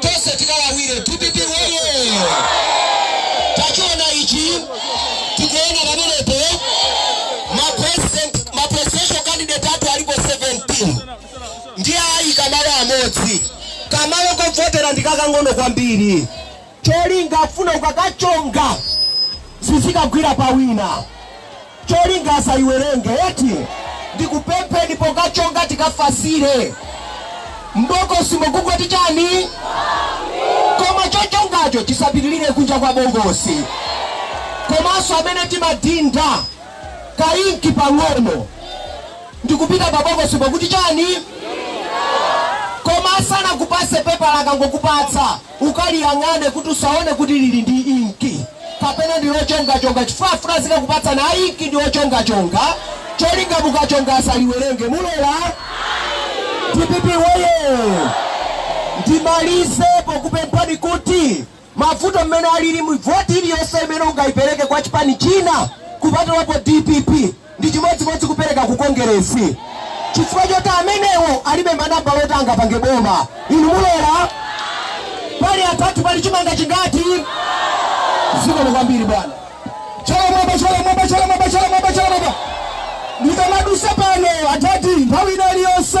tonse tikalawire dpp woye tachiona ichi tikuona pamenepo ma presidential candidate athu alipo 17 ndiye ayika malo amodzi kamalo kovotera ndikakang'ono kwambiri cholinga afuna ukakachonga zizikagwira pa wina cholinga asayiwerenge eti ndikupempheni pokachonga tikafasire m'bokosimo kungoti chani koma chochongacho chisapitirire kunja kwa bokosi komanso amene timadinda kainki pang'ono ndikupita pa bokosi pakuti chani koma asanakupase pepala akangokupatsa Ukaliyang'ane kuti usaone kuti lili ndi inki kapena ndi lochongachonga chifukwa afuna azikakupatsani a inki ndi ochongachonga cholinga mukachonga asaliwerenge. Mulola? Dpp woyee! Ndimalize pokupemphani kuti mavuto mmene alilimu voti iliyonse imene ungayipereke kwa chipani china kupatulapo dpp, Ndi chimodzimodzi kupereka ku Kongeresi chifukwa choti amenewo alibe manambala oti angapange boma. Inu mulola? Pali adadi, pali chimanga chingati? Zikomo kwambiri bwana. Chala mwamba, chala mwamba, chala mwamba, chala mwamba, chala mwamba. Ndikamadusa pano adadi nthawi ina iliyonse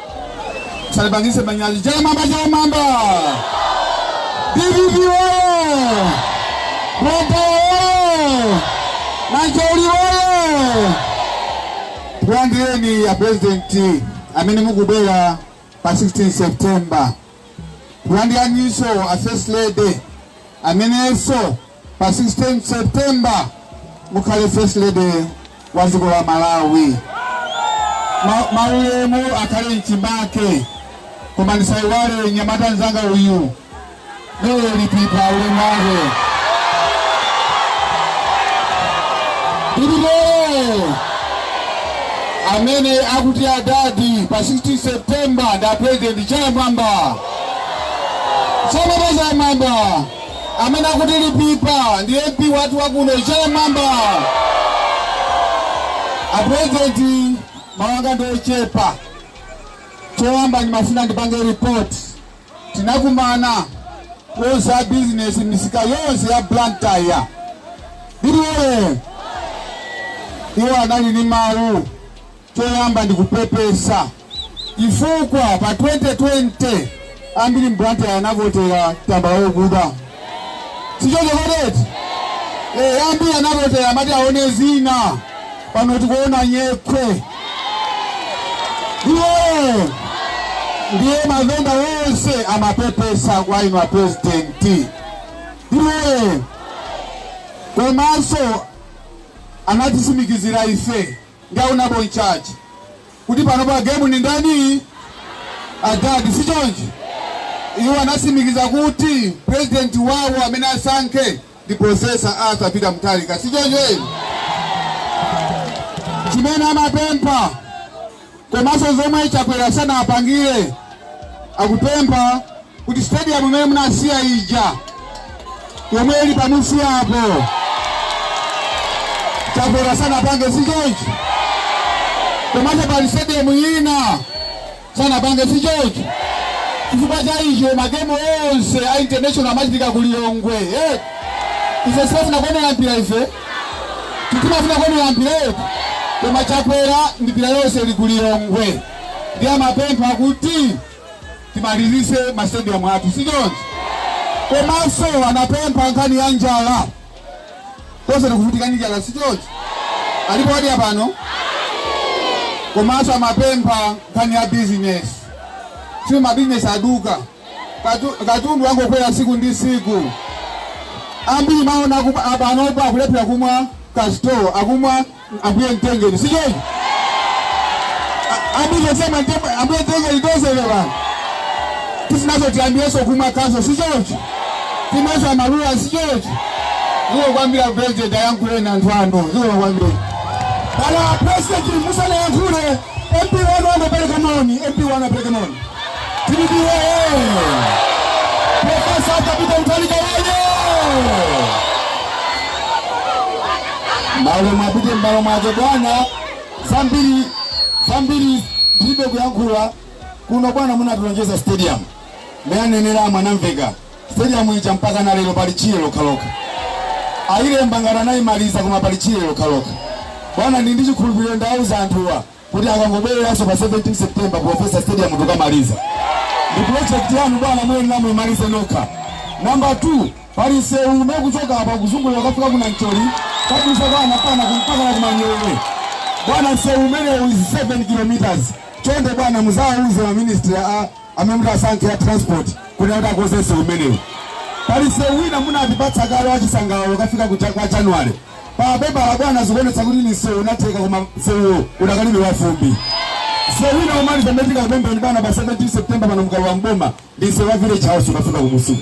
Salipangise manyazi chala mwamba chala mwamba. DPP oye! Rwanda oye! Nancholi oye! Takulandirani a president amene mukubwera pa 16 September. Takulandiraninso a first lady amenenso pa 16 September mukhale first lady wa dziko la Malawi. Maulemu akhale mchimake, koma ndisaiwale mnyamata nzanga uyu Noel Lipipa ulemu wake Pilipolo amene akuti adadi pa 16 September ndi a president chala mwamba chala mwamba Amene akuti Lipipa ndi MP wathu wakuno chala mwamba. A president mawu anga ndi ochepa. Choyamba ndimafuna ndipange report. Tinakumana onse a business misika yonse ya Blantyre ndi Limbe. Iwo anali ndi mawu Choyamba ndikupepesa chifukwa pa 2020 ambiri m'Blantyre anavotera tambala wokuda, sichoncho kodi eti? Eh, ambiri anavotera amati aone zina, pano tikuona nyekhwe ndiye ndiye mavenda onse amapepesa kwa inu apurezidenti ndiye komanso anatisimikizira ife ngati Honourable in charge kuti pano pa game ndi ndani? Adadi si choncho? Iwo anatsimikiza kuti president wawo amene asankhe ndi Professor Arthur Peter Mutharika si choncho? Chimene amapempha komanso zomwe Chakwera sanawapangire akupempha kuti stadium imene munasiya ija yomwe ili pamunsi apo Chakwera sanapange si choncho komanso pali stadium ina sanapange si choncho chifukwa cha icho magemu onse a international amachitika ku Lilongwe eh? ife sitifuna kuonera mpira ife titimafuna kuonera mpira eti koma chakwera mpira yonse ili ku lilongwe ndiye amapempha kuti timalizise masitedium athu si choncho komanso anapempha nkhani ya njala tonse tikuvutika ndi njala si choncho alipo wadya pano komanso amapempha nkhani ya bizinesi si mabizinesi aduka Katundu wangokwera tsiku ndi tsiku ambiri mwaona panopo akulephera kumwa Castle akumwa ambuye mtengeni si choncho mumadziwa ambuye mtengeni ndiye tikawina tisinazo tiyambirenso kumwa Castle si choncho timeso amaluwa sichochi ndiye kwambiri president ayankhuleni anthu ano ndiye kwambiri Bwana President musanayankhule MP wanu amepeleka moni, MP wanu amepeleka moni. DPP woyee. Professor Arthur Peter Mutharika woyee. Malo mwapite mbalo mwaje bwana. Zambiri zambiri ndilibe kuyankhula kuno bwana munatulonjeza stadium. Mmene ananenera Mwanamvekha. Stadium ija mpakana lero pali tchire lokhalokha. Ayilemba ngati anayimaliza koma pali tchire lokhalokha. Bwana ndili ndi chikhulupiriro ndawauza anthuwa kuti akangobwereranso pa 17 September Professor Stadium tikamaliza. Ndi project yanu bwana muyenera muyimalize nokha. Number 2 pali msewu umene kuchoka apa kuzungulira kukafika ku Nancholi kudutsa kwa Anapana mpakana ku Manyowe. Bwana msewu umenewu is 7 kilometers. Chonde bwana muzawauze ma ministry a amene mutasankhe ya transport kuti kuti akonze msewu umenewu pali msewu wina munatipatsa kale wachisangalalo ukafika kucha- kwa january pa pepala bwana zikuonetsa kuti ni msewu unatheka koma msewuwo udakalibe wafumbi msewu wina umaliza metika kupembeni bwana pa 17 september pano mkalowa mboma ndi msewu wa village house ukafika kumusiku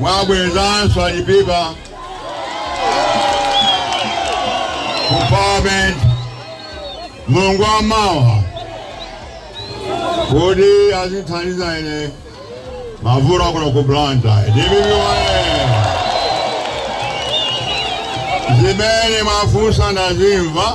mwabwezanso a Lipipa ku parliament mulungu wamawa kuti azithandiza ine mavuto akuno ku Blantyre DPP woye zimene mwafunsa ndazimva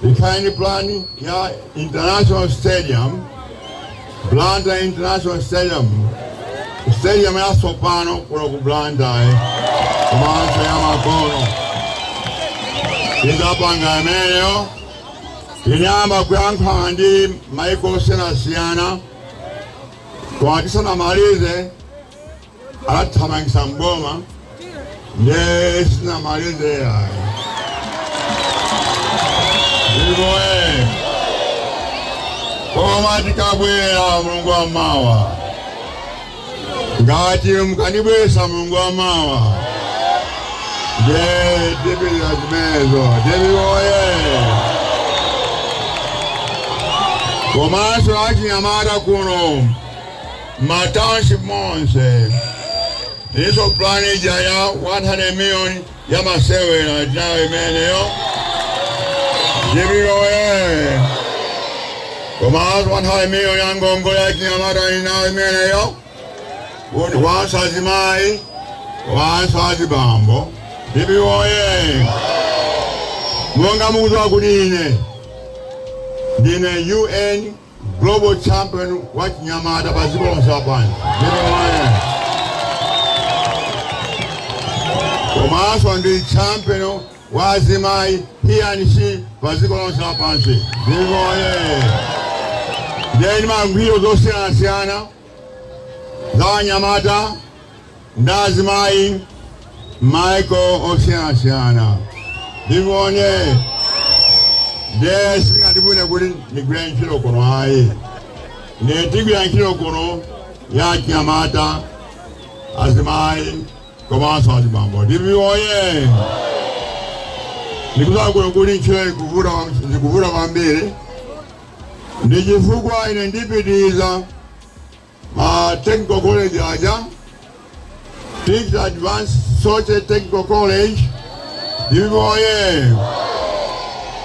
tinali ndi plan ya International stadium, Blantyre International Stadium, stadium ya sopano kuno ku Blantyre komanso ya makono tizapanga imeneyo tinayamba kuyankhulana ndi maiko osiyanasiyana koma tisanamalize anatithamangitsa mboma nde sinamalize yayi DPP woye koma tikabwera mulungu wa mawa ngati mukandibweza mulungu wa mawa nde tipitiriza zimenezo DPP woye komanso achinyamata kuno M'matawunship monse tilinso plan ija ya 100 million ya masewera tinayo imeneyo DPP woye komanso 100 million ya ngongole ya achinyamata tinayo imeneyo komanso azimayi komanso azibambo DPP woye monga mukudziwa kuti ine ndine UN global champion wa achinyamata pa dziko lonse lapansi komanso ndi champion wa azimayi HeForShe pa dziko lonse lapansi DPP woye nde ndimagwira zosiyanasiyana za anyamata ndi azimayi m'maiko osiyanasiyana DPP woye ndiye singandivute kuti ndigwire ntchito kuno ayi ndiye tigwira ntchito kuno ya anyamata azimayi komanso azibambo DPP woye ndikudziwa kuno kuti ntchito ikuvuta zikuvuta kwambiri Ndi chifukwa ine ndipitiriza ma technical college aja Teach Advanced Soche Technical College DPP woyee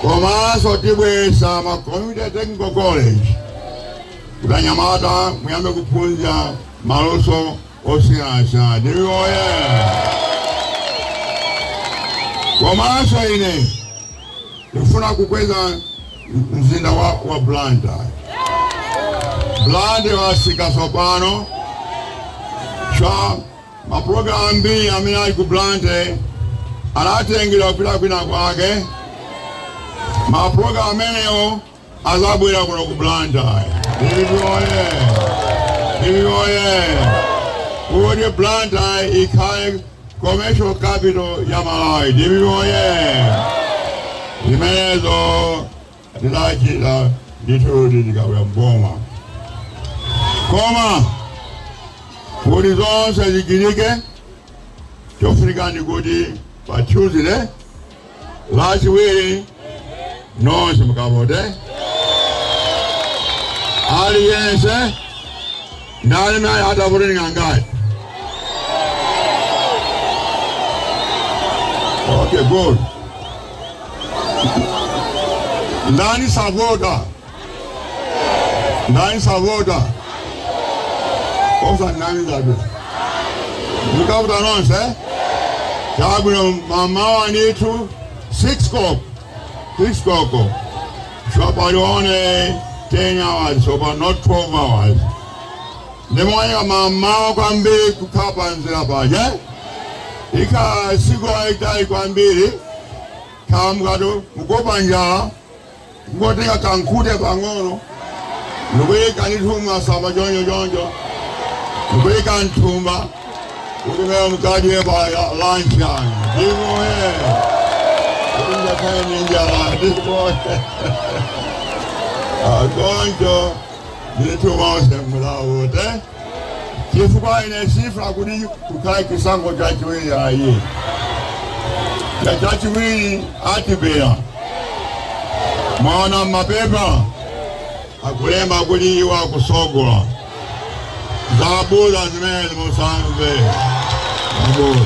komanso tibweza ma Community Technical College kuti anyamata muyambe kuphunzira maluso osiyanasiyana DPP woyee komanso ine ndifuna kukweza mzinda wa, wa Blantyre. Blantyre watsika tsopano chifukwa mapulogalamu ambiri amene ali ku Blantyre anatengera kupita kwina kwake. Mapulogalamu amenewo azabwera kuno ku Blantyre. DPP woyee! Kuti Blantyre ikhale Commercial capital ya Malawi. Dpp woyee! Zimenezo tizachita ndithu tikabwera mboma. Koma kuti zonse zichitike chofunika ndi kuti pa Tuesday lachiwiri nonse mukavote aliyense ndani naye atavote ndi angati okay good ndani savota ndani savota osanamizabe mukavote nonse chabwino mamawa ndithu 6 koloko 6 koloko shopali one 10 hours shopali not 12 hours ndimwanyika mamawa kwambiri kukhala pamzere paja ikhala siku lalitali kwambiri khala mukatu mukuopa njala Kungotenga ka nkhute pang'ono ndikuyika ndithu masamba choncho choncho ndikuyika mthumba kuti imeneyo mukadye pa lunch yanu DPP woyee kungakhale ndi njala DPP woyee choncho ndithu nonse mukavote chifukwa ine sifuna kuti kukhale chisankho chachiwiri ayi chifukwa chachiwiri atibera mwaona mapepa akulemba kuti iwo akusogola zabodza zimenezo musamve zabodza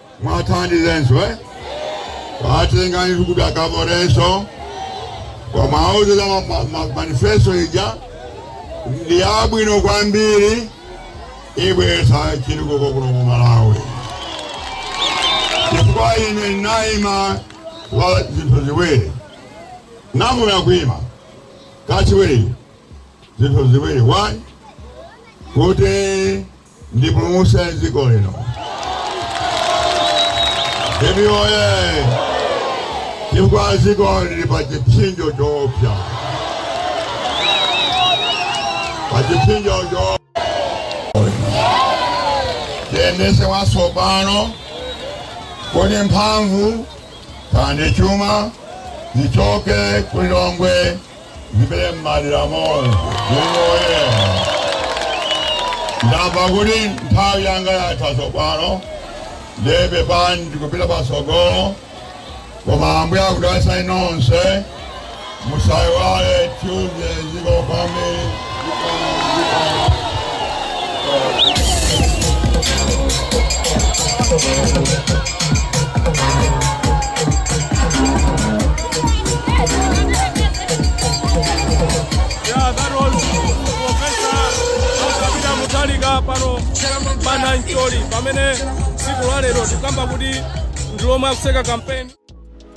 mwathandizenso eh? watengani kuti akaborenso koma auze za ma- ma- ma- manifesto ija ndi yabwino kwambiri ibwesa chitukuko kuno ku malawi chifukwa ine ndinayima pa zinthu ziwiri number one kuima kachiwiri zinthu ziwiri number one kuti ndipulumutse dziko lino. Emi oye! Chifukwa dziko lili pa chipsinjo choopsa, pa chipsinjo choopsa. Tiyendese mwatsopano kuti mphamvu kandi chuma zichoke ku Lilongwe Zipite m'madera monse oye ndamva kuti nthawi yanga yatha tsopano ndiye basi ndikupita patsogolo koma ambuye akudalitseni nonse musaiwale tuesday zikomo kwambiri pamene tsiku la lero tikukamba kuti ndi lomwe akutseka kampeni